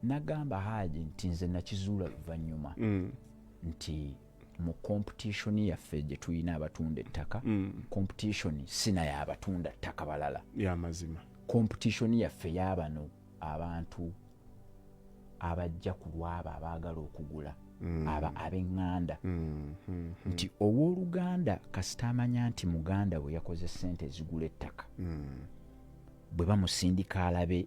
nagamba haji nti nze nakizuula luvannyuma mm. nti mu competition yaffe gye tulina abatunda ettaka mm. competition sina yabatunda ttaka balala yamazima competition yaffe yabano abantu abajja ku lwabo abaagala okugula mm. aba ab'eŋŋanda mm, mm, nti ow'oluganda kasita amanya nti muganda we yakoze ssente ezigula ettaka bwe bamusindika alabe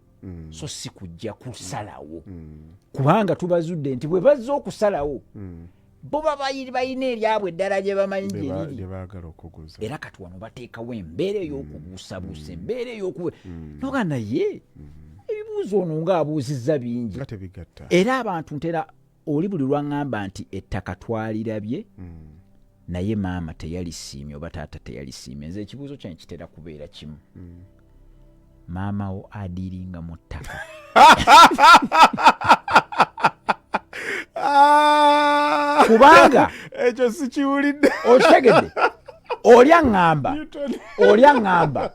mm. so si kujja kusalawo mm. kubanga tubazudde nti bwe bazze okusalawo mm. bo babayiribalina eryabwe eddala gye bamanyi gyeriri era kati wano bateekawo embeera ey'okubuusabuusa mm. embeera ey'oku mm. noga naye mm. ebibuuzo ono ng'abuuzizza bingi era abantu ntera oli buli lwaŋŋamba nti ettaka twalirabye mm. naye maama teyalisiimye oba taata teyalisiimye nze ekibuuzo kyange kitera kubeera kimu mm. maama wo adiiringa mu ttaka ah! kubanga ekyo sikiwulidde okitegedde oli aŋŋamba oli aŋŋamba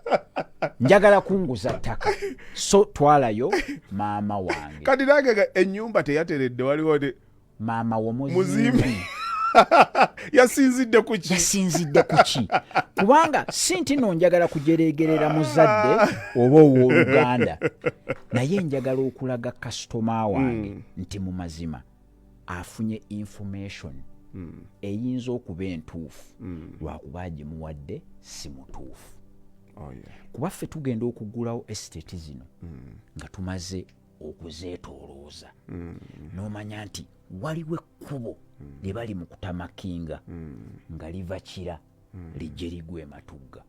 njagala kunguza ttaka so twalayo maama wange kati nange ennyumba teyateredde waliwo ne maama womuzimbi yasinzidde kuki yasinzidde kuki kubanga si nti no njagala kujereegerera muzadde oba ow'oluganda naye njagala okulaga kasitoma wange mm. nti mu mazima afunye information mm. eyinza okuba entuufu mm. lwakuba agimuwadde si mutuufu oh, yeah. kuba ffe tugenda okugulawo estate zino mm. nga tumaze okuzeetolooza mm. n'omanya nti waliwo ekkubo mm. lye bali mu kutamakinga mm. nga liva kira mm. lijje ligwa ematugga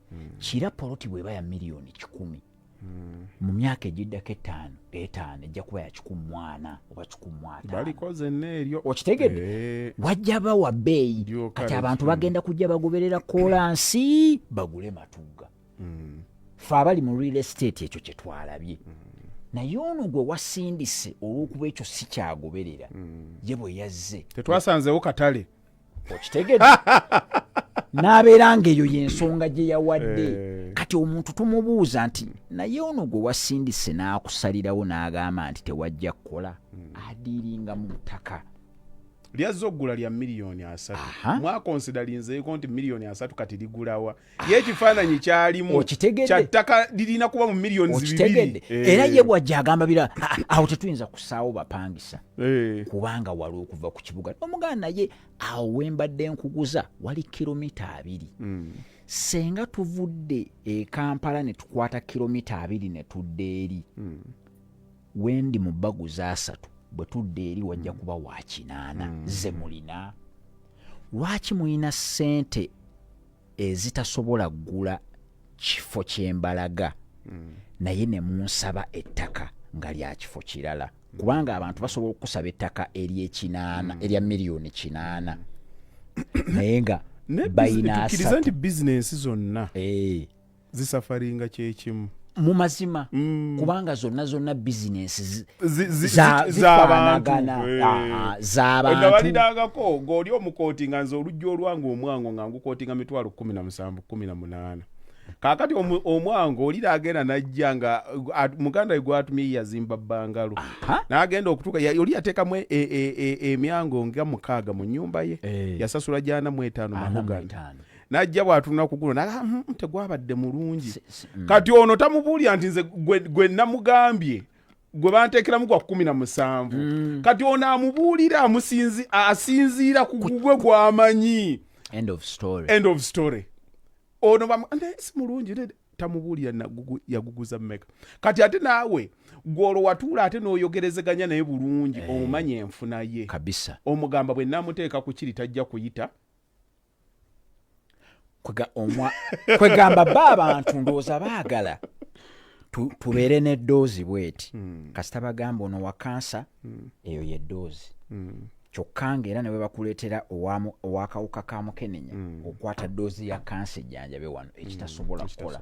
hmm. kira poloti bweba ya miliyoni kikumi hmm. mu myaka egiddako etaano etaano ejja kuba yakikumwana oba kikumwatabalikozeneeryo okitegedde eh. wajja bawa bbeeyi kati abantu bagenda kujja bagoberera kolansi bagule matuga hmm. fe abali mu real estate ekyo kyetwalabye naye ono gwe wasindise olwokuba ekyo sikyagoberera ye bwe yazze tetwasanzewo katale okitegede n'abeera ng'eyo y'ensonga gye yawadde eh. kati omuntu tumubuuza nti naye ono gwe wasindise n'akusalirawo n'agamba nti tewajja kukola hmm. adiiringa mu ttaka lyazza okugula lya miliyoni asatu mwakonsidalinzeeko nti miliyoni asatu kati ligulawa ye ekifaananyi kyalimu kyattaka lirina kuba mu millioni okitegedde eh. era ye bwajja agamba bira awo tetuyinza kusaawo bapangisa eh. kubanga wali okuva ku kibuga omugana naye awo wembadde nkuguza wali kilomita abiri hmm. senga tuvudde e kampala ne tukwata kilomita abiri ne tudda eri hmm. wendi mu baguza asatu bwe tudda eri wajja hmm. kuba wakinaana ze mulina lwaki mulina ssente ezitasobola ggula kifo kyembalaga mm. naye ne munsaba ettaka nga lya kifo kirala kubanga abantu basobola okusaba ettaka eryekinaana mm. erya miliyoni kinaana naye nga bayinaasa nti bizinensi zonna eh. zisafaringa kyekimu mu mazima mm. kubanga zonna zonna bizinensi zafanagana zabantubalidangako ngaoli omukooti nga nze oluggi olwange omwango nga ngukootinga mitwalo kumi na musanvu kumi na munaana kakati omwango olira agenda najja nga muganda gwatumiye yazimba bangalo nagenda okutuka oli yatekamu e, e, e, emyango nga mukaaga mu nyumba ye eh. yasasula jana mu etaano mahogana najja bwatunula ku guno naga hmm, hmm, tegwabadde mulungi mm. kati ono tamubuulira nti nze gwe namugambye gwe banteekeramu gwa kumi na musanvu mm. kati ono amubuulira asinziira ku gugwe gwamanyi end of story end of story ono bamu naye si mulungi tamubuulira nagugu yaguguza meka kati ate naawe gwolwo watuula ate n'oyogerezeganya naye bulungi eh. omumanya enfuna ye kabisa omugamba bwe namuteeka ku kiri tajja kuyita kwegamba ba abantu ndowooza baagala tubeere n'eddoozi bweti hmm. kasita bagamba ono wa kansa hmm. eyo yeddoozi hmm. kyokka ngaera ne bwe bakuleetera owakawuka ka mukenenya okwata ddoozi ya kansa ejjanjabe wano ekitasobola kukola